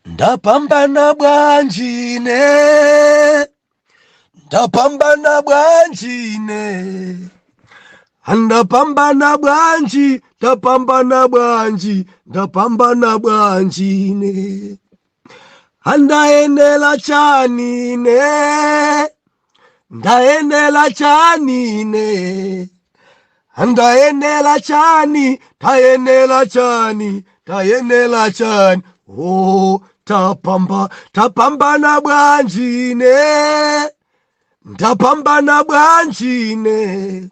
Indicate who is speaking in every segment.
Speaker 1: ndapambana bwanji ine ndapambana bwanji ine ndapambana bwanji ndapambana bwanji ndapambana bwanji ine ndayenela chani ine ndayenela chani ine ndayenela chani tayenela chani tayenela chani oh, tapambana bwanji ine ndapambana bwanji ine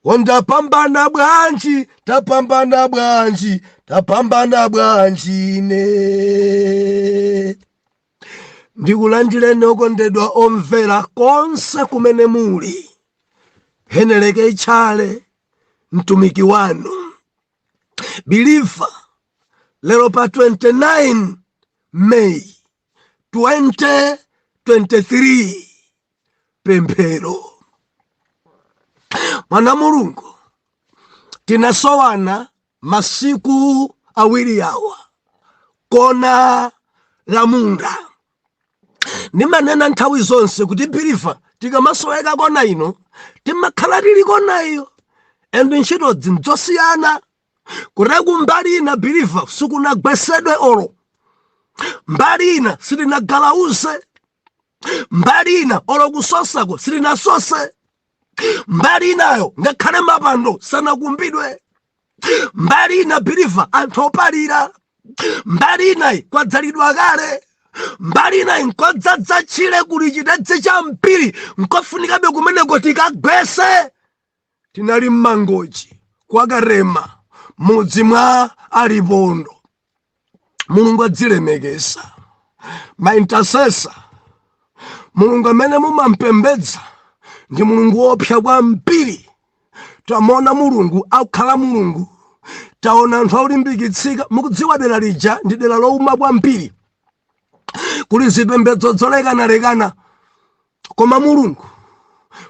Speaker 1: oh ndapambana bwanji tapambana bwanji tapambana bwanji ine ndikulandireni okondedwa omvera konse kumene muli heneleke itchale mtumiki wanu biliva lero pa 29 may 2023 pemphero mwana wa mulungu tinasowana Masiku awiri awa kona la munda ndimanena nthawi zonse kuti biliva tikamasoweka kona ino timakhala tili kona iyo and ntchito ndi zosiyana kuteroku mbali ina biliva sikunagwesedwe olo mbali ina sitinagalauze mbali ina olo kusosako silinasose mbali inayo ngakhale mapando sanakumbidwe mbali ina biliva anthu opalira mbali inayi kwadzalidwa kale mbali inayi nkodzadza tchire kuli chitedze chambiri nkofunikabe kumeneko tikagwese Tinali m'Mangochi kwa Katema, mudzi mwa Alipondo. Mulungu wadzilemekeza. Ma intercessor, Mulungu amene mumampembedza ndi Mulungu woopsa kwambiri. Tamuona Mulungu akukhala Mulungu, taona anthu akulimbikitsika. Mukudziwa dera lija ndi dera louma kwambiri, kuli zipembedzo zolekanalekana koma mulungu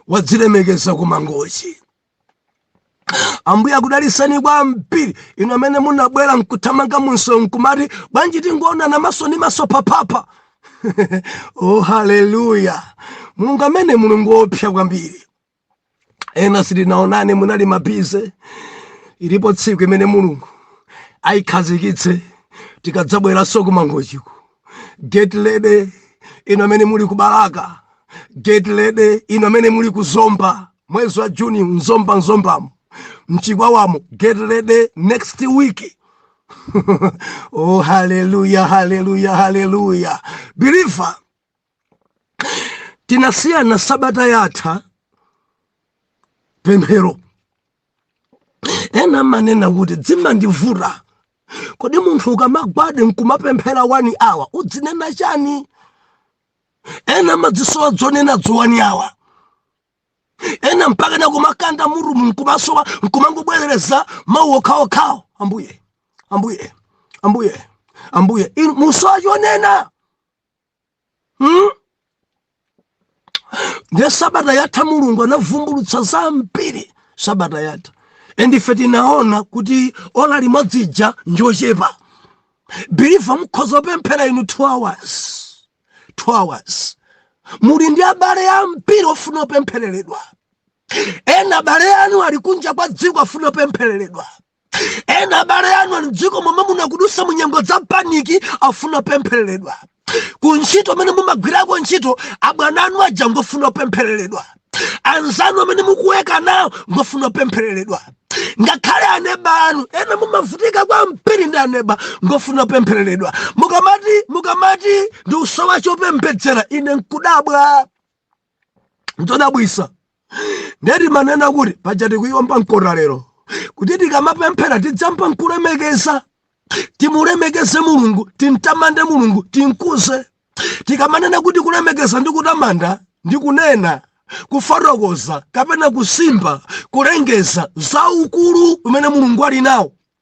Speaker 1: wadzilemekeza ku mangochi ambuye akudalitseni kwambiri inu amene munabwera nkuthamanga munso nkumati bwanji tingoonana maso ndi maso papapa oh haleluya mulungu amene mulungu wopsa kwambiri ena sitinaonane munali mabize ilipo tsiku imene mulungu ayikhazikitse tikadzabweranso ku Mangochiko get ready inu amene muli ku Balaka get ready inu amene muli ku Zomba mwezi wa juni mZomba mZombamo mChikwawamo get ready next week oh haleluya haleluya haleluya believer tinasiyana sabata yatha pemphero ena amanena kuti zimandivuta kodi munthu ukamagwada nkumapemphera one hour udzinena chani ena amazisowa zonena zo one hour ena mpakana kumakanda mutumu nkumasowa nkumangobwerereza mawu okhaokhawo ambuye ambuye ambuye ambuye nkusowa chonena hmm? nde sabata yatha mulungu anavumbulutsa zambiri sabata yatha end ife tinaona kuti ola limodzi ija njochepa believer mukhoza kupemphera inu 2 hours 2 hours muli ndi abale ambiri ofuna kupemphereredwa ena abale anu ali kunja kwa dziko afuna kupemphereredwa ena abale anu ali mdziko momwe muno akudutsa mu nyengo za paniki afuna pemphereredwa ku ntchito kumene mumagwirako ntchito abwana anu aja ngofuna pemphereredwa anzanu amene mukuweka nawo ngofuna pemphereredwa ngakhale aneba anu ena mumavutika kwambiri ndi aneba ngofuna pemphereredwa mukamati mukamati ndikusowa chopembedzera ine ndikudabwa nzodabwitsa nde timanena kuti paja tikuwomba mkota lero kuti tikamapemphera tidziyamba nkulemekeza timulemekeze mulungu timtamande mulungu timkuze tikamanena kuti kulemekeza ndi kutamanda ndi kunena kufotokoza kapena kusimba kulengeza za ukulu umene mulungu ali nawo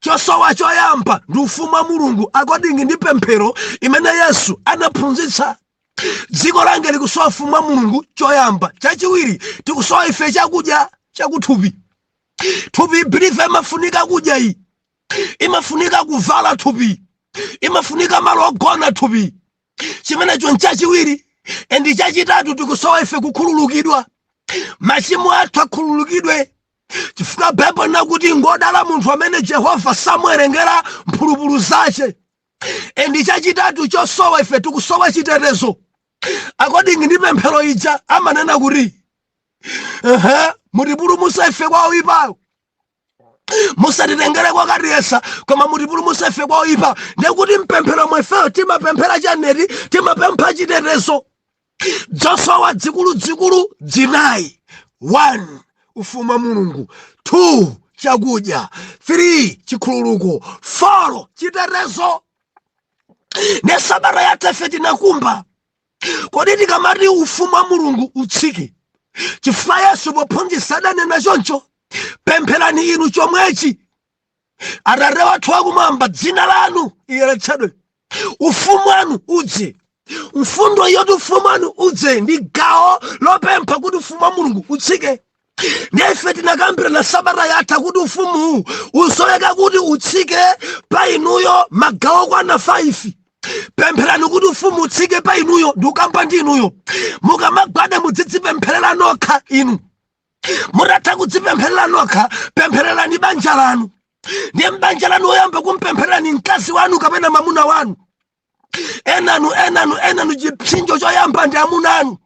Speaker 1: chosowa choyamba ndi ufumu wa mulungu according ndi pemphero imene yesu anaphunzitsa dziko langa likusowa ufumu wa mulungu choyamba chachiwiri tikusowa ife chakudya chakuthupi thupi believer imafunika kudya iyi imafunika kuvala thupi imafunika malo ogona thupi chimenecho nchachiwiri and chachitatu tikusowa ife kukhululukidwa machimo athu akhululukidwe chifukwa baibulo linena kuti ngodala munthu amene jehova samuwerengera mphulupulu zache and chachitatu chosowa ife tikusowa chitetezo according ndi pemphero ija amanena kuti ehe mutipulumutse ife kwa oyipayo musatitengere kokatiyesa koma mutipulumutse ife kwa oyipayo ndekuti mpemphero ifeyo timapemphera chani eti timapempha chitetezo zosowa dzikuludzikulu dzinayi 1 ufumu wa mulungu 2 chakudya 3 chikhululuko 4 chitetezo ne sabata yatha ife tinakumba kodi tikamati ufumu wa mulungu utsike chifukwa yesu pophunzitsa adanena choncho pempherani inu chomwechi atate wathu wakumwamba dzina lanu liyeretsedwe ufumu wanu udze mfundo yoti ufumu wanu udze ndi gawo lopempha kuti ufumu wa mulungu utsike nde ife tinakambirana sabata yatha kuti ufumuwu usoweka kuti utsike pa inuyo magawo okwana 5 pempherani kuti ufumu utsike pa inuyo ndikukamba ndi inuyo mukamagwada mudzidzipempherera nokha inu mutatha kudzipempherera nokha pemphererani banja lanu ndiye m'banja lanu woyamba kumpempherera ndi mkazi wanu kapena mamuna wanu enanu enanu enanu chipsinjo choyamba ndi amuna anu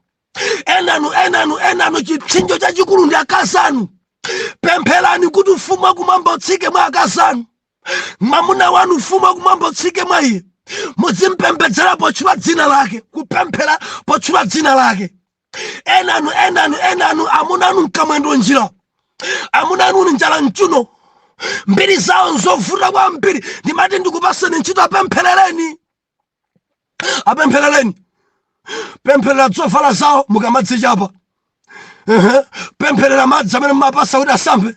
Speaker 1: enanu enanu enanu chipsinjo chachikulu ndi akazi anu pempherani kuti ufumu wakumwamba utsike mwa akazi anu mamuna wanu ufumu wakumwamba utsike mwa iye muzimpembedzera potchula dzina lake kupemphera potchula dzina lake enanu enanu enanu amuna anu nkamwendo njira amuna anu ni njala mchuno mbiri zawo nzovuta kwambiri ndimati ndikupaseni ntchito apempherereni apempherereni pempherera zovala zawo mukamadzichapa Ehe. pempherera madzi amene mumapasa kuti asambe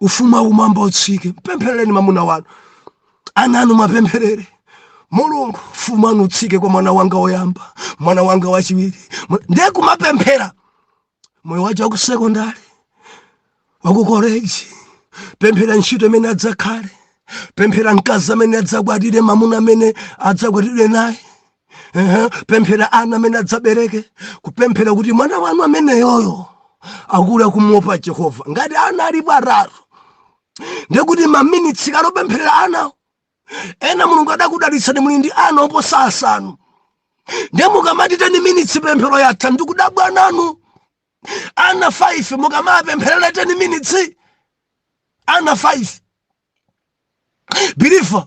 Speaker 1: ufumu wakumwamba utsike mpempherereni mamuna wanu ana anu muwapempherere mulungu ufumu wanu utsike kwa mwana wanga woyamba mwana wanga wachiwiri ndiye kumapemphera moyo wache wakusekondari wakukoleji pemphera ntchito imene adzakhale pemphera mkazi amene adzakwatire mamuna amene adzakwatiwe naye pemphera ana amene adzabereke kupemphera kuti mwana wanu ameneyoyo akule akumuopa jehova ngati ana alipo atatu ndekuti maminitsi kale opempherera ana ena mulungu adakudalitsani muli ndi ana oposa asanu nde mukamati teni minitsi pemphero yatha ndikudabwa nanu ana 5 mukamapempherera teni minitsi ana 5 biliva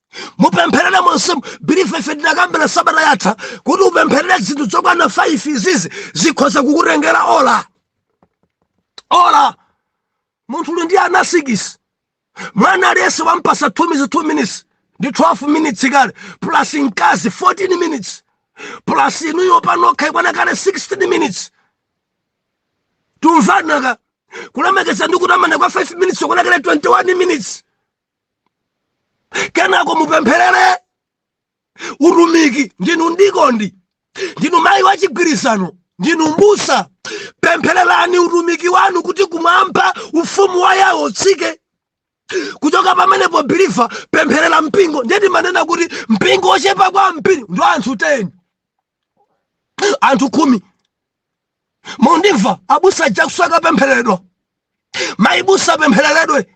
Speaker 1: mupempherere monsemu biliva ife tinakambira sabata yatha kuti upempherere zinthu zokwana 5 izizi zikhoza kukutengera ola ola munthu uli ndi ana sikisi mwana aliyense wampasa 2 minutes 2 minutes ndi 12 minutes kale plus mkazi 14 minutes plus inuyo panokha ikwana kale 16 minutes tumvanaka kulemekeza ndi kutamanda kwa 5 minutes yakwana kale 21 minutes kenako mupempherere utumiki ndinu mdikoni ndinu mayi wa chigwirizano ndinu mbusa pemphererani utumiki wanu kuti kumwamba ufumu wa yehova utsike kuchoka pamenepo biliva pempherera mpingo ndiye timanena kuti mpingo wochepa kwambiri ndi anthu 10 anthu khumi mundimva abusa aja akusoweka pemphereredwa mayi busa apemphereredwe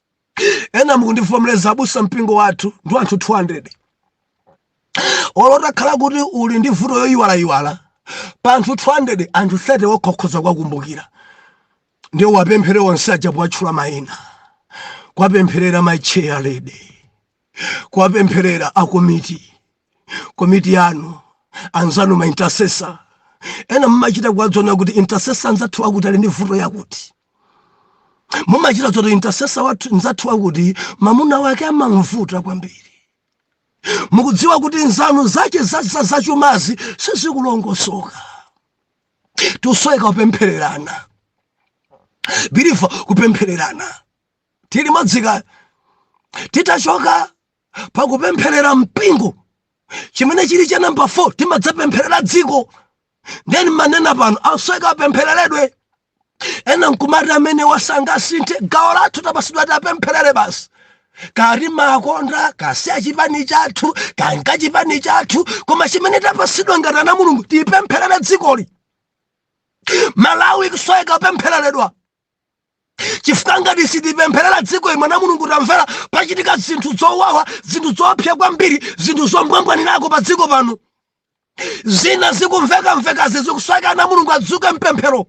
Speaker 1: ena mukundivomereza abusa mpingo wathu ndi anthu 200 olo utakhala kuti uli ndi vuto yoyiwalayiwala pa anthu 200 anthu 30 okha ukhoza kuwakumbukira ndiye uwapemphere onse aja kuwatchula mayina kuwapempherera mayi chair lady kuwapempherera a komiti komiti yanu anzanu ma intercessor ena mmachita kuwadziwa kuti intercessor anzathu akuti ali ndi vuto yakuti mumachita zoti intercessor wathu mzathu wakuti mamuna wake amamvuta kwambiri mukudziwa kuti nzanu zache zachumazi sizikulongosoka tikusoweka kupemphererana biliva kupemphererana tili limodzi ka titachoka pakupempherera mpingo chimene chili cha namba 4 timadzapempherera dziko nde ndimanena pano akusoweka apemphereredwe ena nkumati amenewa sangasinthe gawo lathu tapasidwa tiwapempherere basi kaya timakonda kaya si a chipani chathu kaya nga chipani chathu koma chimene tapasidwa ngati ana a mulungu tipempherere dzikoli malawi ikusoweka kupemphereredwa chifukwa ngati sitipempherera dzikoli mwana wa mulungu tamvera pachitika zinthu zowawa zinthu zoopsa kwambiri zinthu zombwambwanirako pa dziko pano zina zikumvekamvekazi zikusoweka ana a mulungu adzuke mpemphero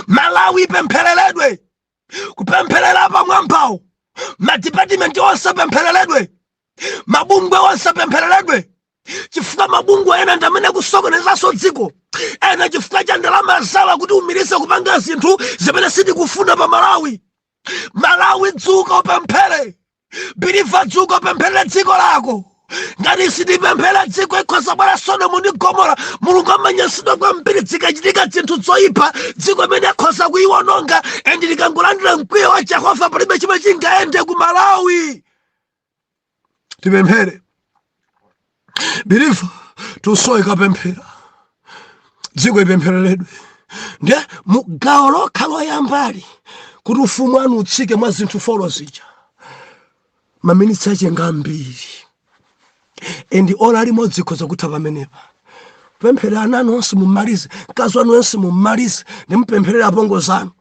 Speaker 1: malawi ipemphereredwe kupempherera apamwambawo madipatimenti onse apemphereredwe mabungwe onse apemphereredwe chifukwa mabungwe ena ndi amene akusokonezanso dziko ena chifukwa cha ndalama zawo kutiumiriza kupanga zinthu zimene sitikufuna pa malawi malawi dzuka upemphere biliva dzuka upempherere dziko lako ngati sitipempherera dziko ikhoza bwera sodomu ndi gomora mulungu amanyansidwa kwambiri zikachitika zinthu zoyipa dziko imene akhoza kuyiwononga and likangolandira mkwiyo wa jehova palibe chimene chingayende ku malawi tipemphere biliva tikusoweka pemphera dziko ipemphereredwe ndiye mu gawo lokha loyambali kuti ufumu wanu utsike mwa zinthu folo zija maminitsi ache nga ambiri endi ola limodzi ikhoza kutha pamenepa pempherera ana anu onse mumalize mkazi wanu onse mumalize ndi mupempherere apongozi anu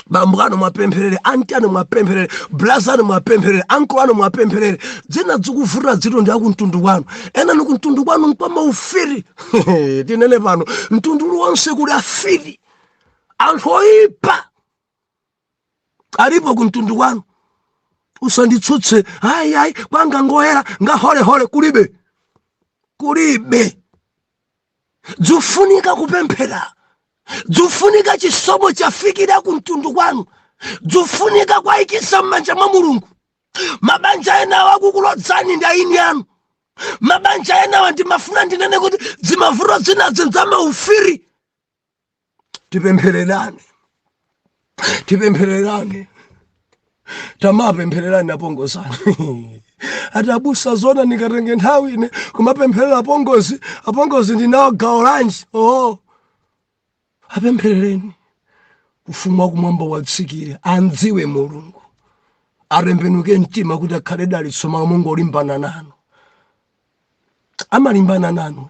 Speaker 1: bambo anu mwapempherere anti anu mwapempherere braza anu mwapempherere anko anu mwapempherere dzina dzikuvuta dzitu ndi akumtundu kwanu ena inu kumtundu kwanu nkwama ufiri tinene pano mtundu uliwonse kuli afiri anthu oyipa alipo kumtundu kwanu usanditsutse ayi ayi ayi wanga ngoyera ngaholehole kulibe kulibe dzufunika kupemphera dzufunika chisomo chafikira ku mtundu kwanu dzufunika kuwayikiza m'manja mwa mulungu mabanja enawo akukulodzani ndi eni anu mabanja enawa ndimafuna ndinene kuti zimavuto zina ndi zamaufiri tipemphererane tipemphererane tamapemphererane apongozi anu ati abusa zona ndikatenge nthawi ine kumapempherera apongozi apongozi ndinawo gawo lanji oo apempherereni ufumu wakumwamba uwatsikire amdziwe mulungu atembenuke mtima kuti akhale dalitso malo mongolimbana nanu amalimbana nanu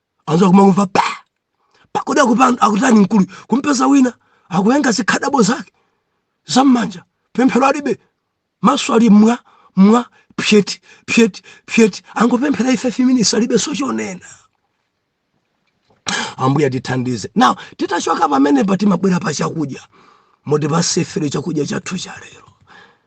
Speaker 1: anzako kumangomva pa pakodi akupanda akutani mkulu kumpeza wina akuyenga zikhadabo zake zammanja pemphero alibe maso ali mwa mwa pyeti pyeti pyeti angopemphera ife 5 minutes alibe so chonena ambuye tithandize now titachoka pamenepa timabwera pa chakudya moti patsefere chakudya chathu cha lero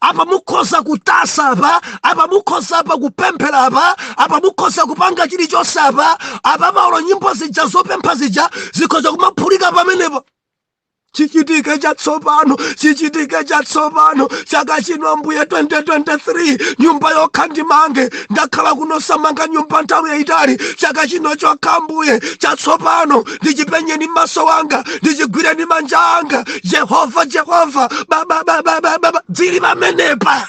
Speaker 1: apa mukhoza kutasa apa apa mukhoza apa kupemphera apa apa mukhoza kupanga chilichonse apa apa maolo nyimbo zija zopempha zija zikhoza kumaphulika pamenepo chichitike chatsopano chichitike chatsopano chaka chino ambuye 2023 nyumba yokha ndimange ndakhala kuno osamanga nyumba nthawi yayitali chaka chino chokha ambuye chatsopano ndichipenye ndi maso anga ndichigwire ndi manja anga jehova jehova babababababa dzili pamenepa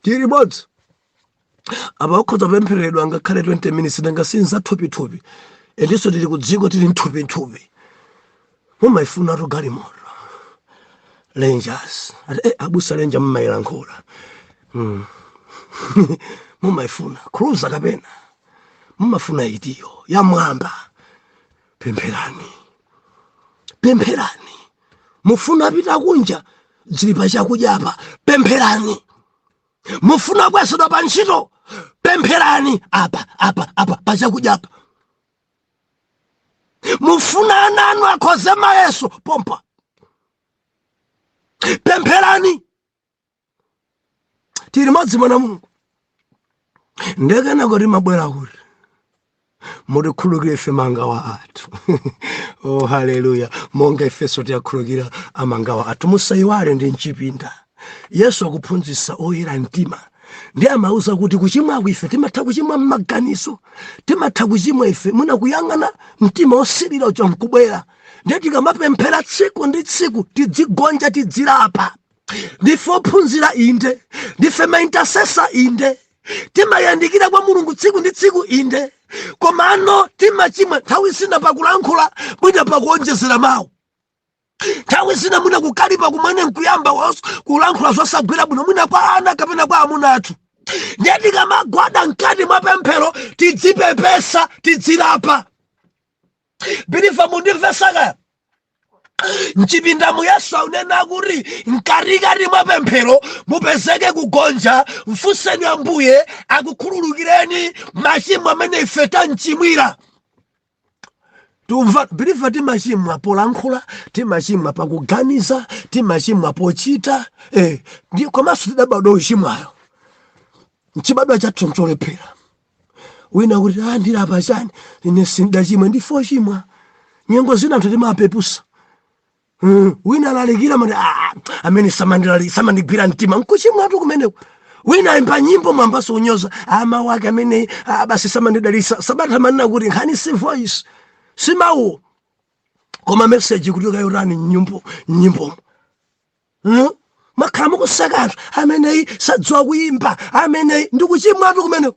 Speaker 1: tili modzi apa ukhoza kupemphereredwa ngakhale 20 minutes nanga si nzathupithupi and so tili kudziko tili mthupithupi mumayifunatu galimoto Rangers ati eh, abusa Ranger mumayilankhula mm. mumayifuna cruiser kapena mumafuna itiyo yamwamba pempherani pempherani mufuna pita kunja zili pa chakudya apa pempherani mufuna kwezedwa pa ntchito pempherani apa apa apa pa chakudya apa mufuna ana anu akhoze mayeso pompano pempherani tili madzimai a mulungu nde kenako timabwera kuti mutikhulukire ife mangawa athu oh haleluya monga ifenso tiyakhulukira amangawa athu musayiwale ndi m'chipinda Yesu akuphunzitsa oyera mtima ndiye amawauza kuti kuchimwa ife timatha kuchimwa m'maganizo timatha kuchimwa ife mwina kuyang'ana mtima wosirira uja nkubwera ndiye tikamapemphera tsiku ndi tsiku tidzigonja tidzilapa ndife ophunzira inde ndife maintasesa inde timayandikira kwa mulungu tsiku ndi tsiku inde komano timachimwa nthawi zina pakulankhula mwina pakuonjezera mawu nthawi zina mwina kukalipa kumene nkuyamba kulankhula zosagwira bwino mwina kwa ana kapena kwa amuna athu ndiye tikamagwada mkati mwa pemphero tidzipepesa tidzilapa biliva mundimvesa kaya m'chipindamu yesu akunena kuti mkatikati mwa pemphero mupezeke kugonja mfunseni ambuye akukhululukireni machimo amene ife tamchimwira tikumva biliva timachimwa polankhula timachimwa pakuganiza timachimwa pochita eh, ndi komanso tidabadwa ochimwa ayi nchibadwa chathu ncholephera wina kuti ah, ndilapa chani ine sindinachimwe ndife ochimwa nyengo zina anthu timapeputsa Hmm, wina alalikira mumati ah, amene samandilali samandigwira mtima nkuchimwatu kumeneko wina waimba nyimbo mwayambanso kunyoza mawu ake amene ah, basi samandidalitsa sabata amanena kuti nkhani si voice si mawu koma message kuti ukuyitani nyimbo nyimbo hmm? mumakhala mukuseka anthu ameneyi sadziwa kuyimba ameneyi ndikuchimwatu kumeneko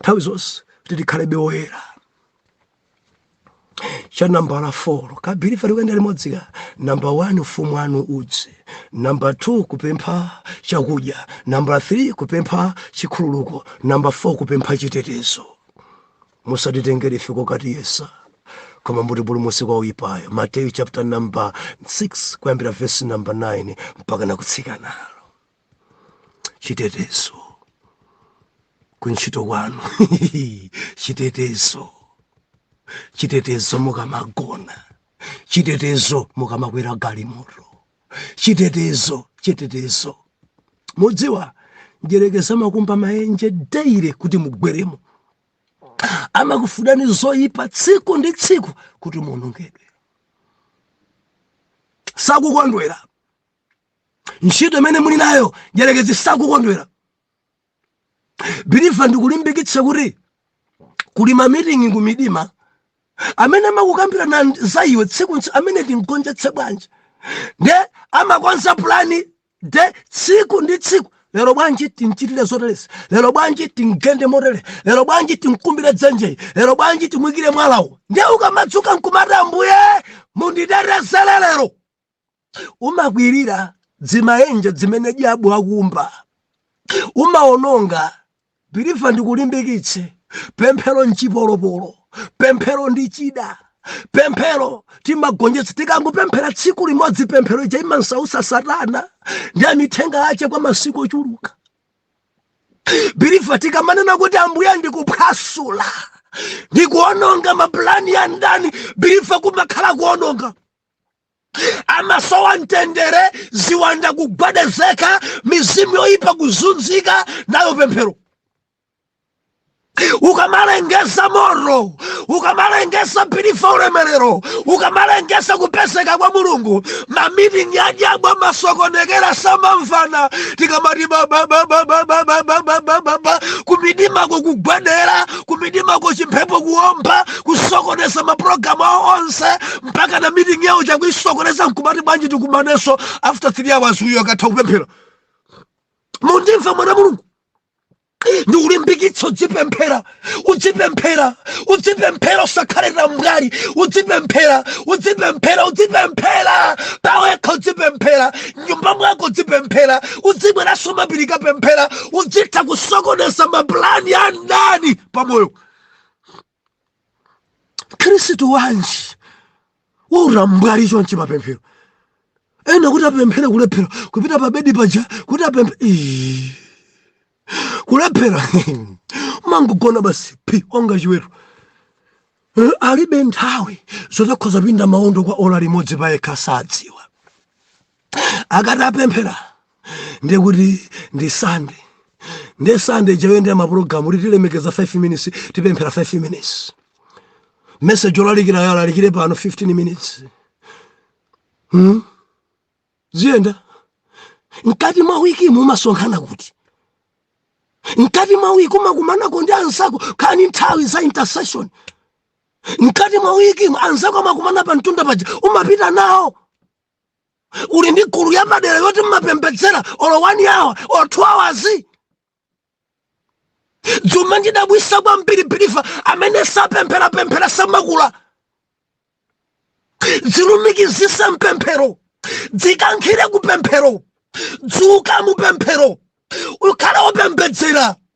Speaker 1: nthawi zonse kuti tikhalebe oyera cha nambala 4 kaya biliva tikuyenda limodzi ka namba 1 ufumu wanu udze namba 2 kupempha chakudya namba 3 kupempha chikhululuko namba 4 kupempha chitetezo musatitengere ife kokatiyesa koma mutipulumutse kwa woyipayo mateyu chapter number 6 kuyambira vesi number 9 mpaka nakutsikana chitetezo kuntchito kwanu chitetezo chitetezo mukamagona chitetezo mukamakwera galimoto chitetezo chitetezo mudziwa mdyerekezi amakumba maenje daily kuti mugweremo amakufunani zoyipa tsiku ndi tsiku kuti muonongedwe sakukondwera ntchito imene muli nayo mdyerekezi sakukondwera believer ndikulimbikitse kuti kuli mamitingi ku midima amene amakukambirana za iwe tsiku amene timgonjetse bwanji nde amakonza pulani de tsiku ndi tsiku lero bwanji timchitire zoterezi lero bwanji timgende motere lero bwanji timkumbire dzenje lero bwanji timuikire mwalawo nde ukamadzuka nkumati ambuye munditetezere lero umakwirira dzimaenje dzimene dyabu wakumba umaononga believer ndikulimbikitse pemphero nchipolopolo pemphero ndi chida pemphero timagonjetsa tikangopemphera tsiku limodzi pemphero ija imansausa satana ndi amithenga ache kwa masiku ochuluka believer tikamanena kuti ambuye ndikuphwasula ndikuononga mapulani a mdani believer kumakhala kuononga amasowa mtendere ziwanda kugwedezeka mizimu yoyipa kuzunzika nayo pemphero ukamalengeza moto ukamalengeza believer ulemerero ukamalengeza kupezeka kwa mulungu mamitingi a dyabu amasokonekera samamvana tikamati bababababababababa kumidimako kugwedera kumidimako chimphepo kuomba kusokoneza mapulogalamu awo onse mpaka na meeting yao chakuisokoneza nkumati bwanji tikumaneso after 3 hours uyo akatha kupemphera mundimva mwana wa mulungu ndikulimbikitse udzipemphera udzipemphera udzipemphera usakhale tambwali udzipemphera udzipemphera udzipemphera pawekha udzipemphera mnyumba mwako udzipemphera udzibweranso mmapiri kapemphera udzitha kusokoneza mapulani a mdani pamoyo mkhristu wanji wautambwali chonchi mapemphero ena kuti apemphere kulephera kupita pa bedi paja kuti apemphere Ii. kulephera amangogona basi phi onga chiweto Eh, alibe nthawi zoti akhoza pinda maondo kwa ola limodzi pa yekha sadziwa akati apemphera ndiye kuti ndi sande ndi sande chayendera mapulogalamu kuti tilemekeza 5 minutes tipemphera 5 minutes message olalikirayo alalikire pano 15 minutes hmm? ziyenda mkati mwa wikimu umasonkhana kuti mkati mwa wiki umakumanako ndi anzako kani nthawi za intercession mkati mwa wiki anzako amakumana pa mtunda paja umapita nawo uli ndi nkhulu yapadera yoti mmapembedzera olo one hour or two hours zimandidabwitsa kwambiri biliva amene sapempherapemphera samakula dzilumikizise mpemphero dzikankhire kupemphero dzuka mupemphero ukhale opembedzera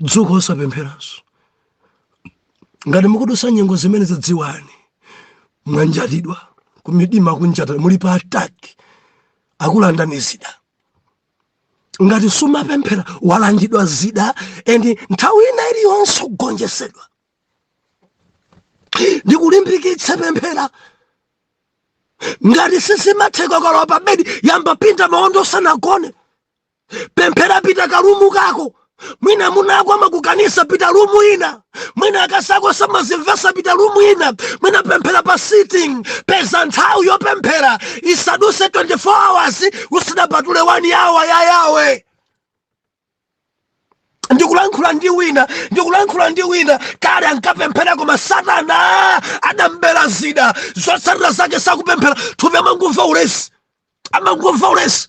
Speaker 1: dzuka osapempheranso ngati mukudusa nyengo zimenezo dziwani mwanjatidwa kumdima kunjata muli pa ataki akulandani zida ngati sumapemphera walandidwa zida and nthawi ina iliyonse kugonjesedwa ndikulimbikitse pemphera ngati sizimatheka ukalowa pa bedi yamba pinda maondo usanagone pemphera pita karumu kako mwina mwamuna wako amakukaniza pita rumu ina mwina akazako samazimvetsa pita rumu ina mwina pemphera pa sitting peza nthawi yopemphera isadutse 24 hours usadapatule 1 awa ya Yawe ndikulankhula ndi wina ndikulankhula ndi wina kale ankapemphera koma satana adamubera zida zotsatira zake sakupemphera thupi amangomva ulesi amangomva ulesi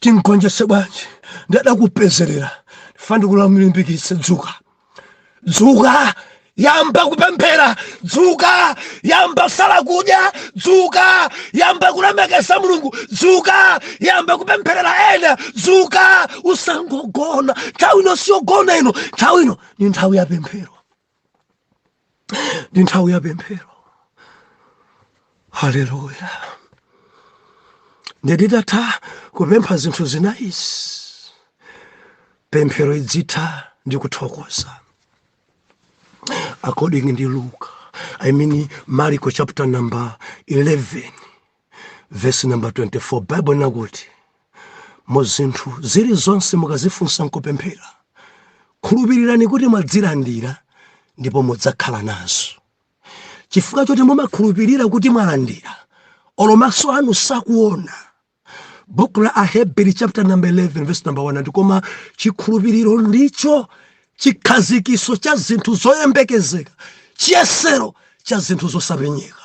Speaker 1: timgonjetse bwanji mdierekezi lero lofuna ndikulimbikitse dzuka dzuka yamba kupemphera dzuka yamba sala kudya dzuka yamba kulemekeza mulungu dzuka yamba kupempherera ena dzuka usangogona nthawi ino siyogona ino nthawi ino ndi nthawi ya pemphero ndi nthawi ya pemphero haleluya ndiye titatha kupempha zinthu zinayizi pemphero idzitha ndi kuthokoza according ndi luka i mean mariko chapter number 11 vesi namba 24 baibulo linakuti mu zinthu zilizonse mukazifunsa nkupemphera khulupirirani kuti mwazilandira ndipo mudzakhala nazo chifukwa choti mumakhulupirira kuti mwalandira olo maso anu sakuona buku la aheberi chapter number 11 verse number 1 ati koma chikhulupiriro ndicho chikhazikitso cha zinthu zoyembekezeka chiyesero cha zinthu zosapenyeka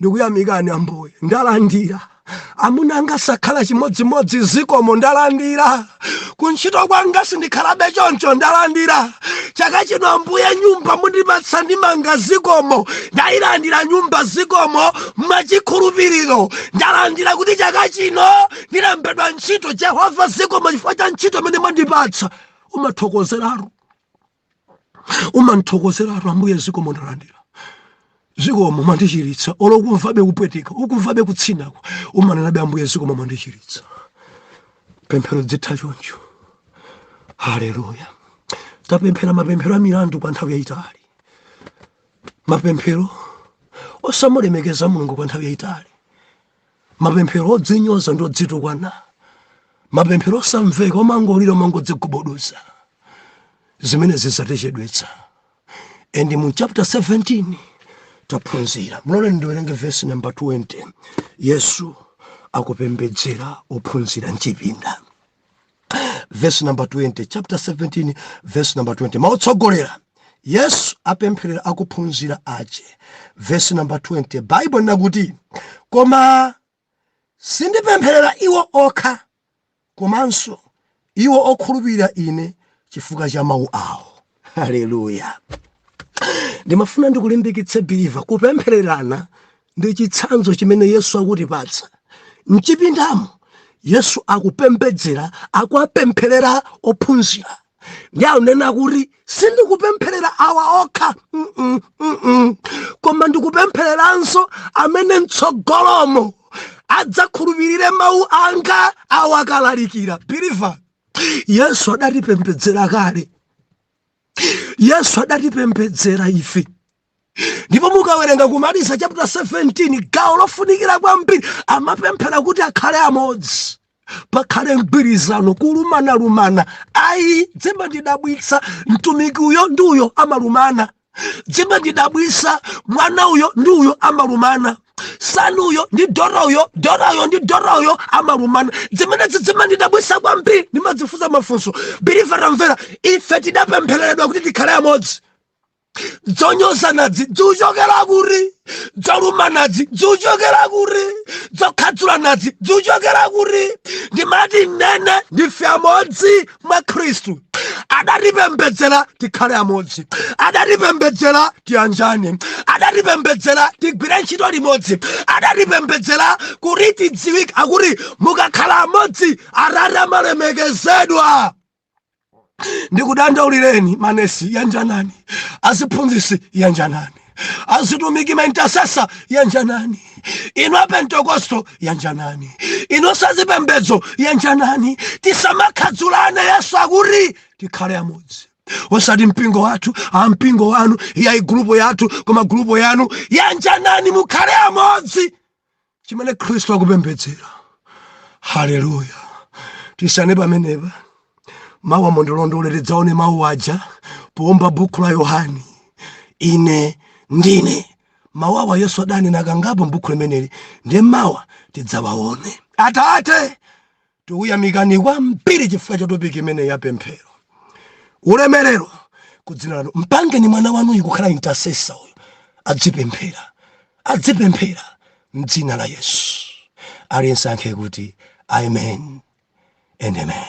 Speaker 1: Ndikuyamikani Ambuye, ndalandira. Amuna anga sakhala chimodzimodzi zikomo, ndalandira. Kuntchito kwanga sindikhalabe choncho, ndalandira. Chaka chino Ambuye, nyumba mundipatsa ndimanga zikomo, ndayilandira nyumba zikomo, mwachikhulupiriro ndalandira kuti chaka chino ndilembedwa ntchito. Jehova zikomo chifukwa cha ntchito imene mwandipatsa. Umathokozeratu. umathokozeratu ambuye zikomo ndalandira zikomo mwandichiritsa olo ukumvabe kupweteka ukumvabe kutsinako umanenabe ambuye zikomo mwandichiritsa pemphero lizitha choncho haleluya tapemphera mapemphero a milandu kwa nthawi yayitali mapemphero osamulemekeza mulungu kwa nthawi yayitali mapemphero odzinyoza ndi odzitukwana mapemphero osamveka omangolira omangodzigubuduza zimenezi zatichedwetsa and mu chapter 17 taphunzira mundiloleni ndiwerenge vesi namba 20 yesu akupembedzera ophunzira mchipinda verse number 20 chapter 17 verse number 20 mau otsogolera yesu apempherera akuphunzira ache verse number 20 baibulo nakuti koma sindipempherera iwo okha komanso iwo okhulupirira ine chifukwa cha mawu awo haleluya ndimafuna ndikulimbikitse biliva kupemphererana ndi chitsanzo chimene yesu akutipatsa mchipindamo yesu akupembedzera akuwapempherera ophunzira ndiye akunena kuti sindikupempherera awa okha mm -mm, mm -mm. koma ndikupemphereranso amene mtsogolomo adzakhulupirire mawu anga awakalalikira biliva yesu adatipembedzera kale yesu adatipembedzera ife ndipo mukawerenga kumaliza chapter 17 gawo lofunikira kwambiri amapemphera kuti akhale amodzi pakhale mgwirizano kulumana lumana ayi dzimandidabwitsa mtumiki uyo ndi uyo amalumana zimandidabwisa mwana uyo ndi uyo amalumana sani uyo ndi dora uyo dora uyo ndi dora uyo amalumana zimenezi zimandidabwisa kwambiri ndimadzifunsa mafunso biliva tamvera ife tidapemphereredwa kuti tikhale amodzi zonyozanazi zikuchokera kuti dzolumanazi dzikuchokera kuti dzokhadzulanazi dzikuchokera kuti ndimati ndinene ndife amodzi mwa khristu adatipembedzera tikhale amodzi adatipembedzera tiyanjane adatipembedzera tigwire ntchito limodzi adatipembedzera kuti tidziwike akuti mukakhala amodzi atate amalemekezedwa ndikudandaulireni manesi yanjanani aziphunzisi yanjanani azitumiki maintasesa yanjanani inu apentekosto yanjanani inu a zipembedzo yanjanani tisamakhadzulane yesu akuti tikhale amodzi osati mpingo wathu ampingo wanu yayi gulupo yathu koma gulupo yanu yanjanani mukhale amodzi chimene khristu akupembedzera haleluya tisiyane pamenepa mawa mundilondole tidzaone mawu aja powumba bukhu la yohani ine ndine mawu awa yesu adanena kangapo m'bukhu limeneli ndiye mawa tidzawaone atate Tikuyamikani kwambiri chifukwa cha topiki imene ya pemphero. Ulemerero ku dzina lanu. Mpangeni mwana wanuyu kukhala intercessor uyu. Adzipemphera. Adzipemphera m'dzina la Yesu. Aliyense ayankhe kuti amen and amen.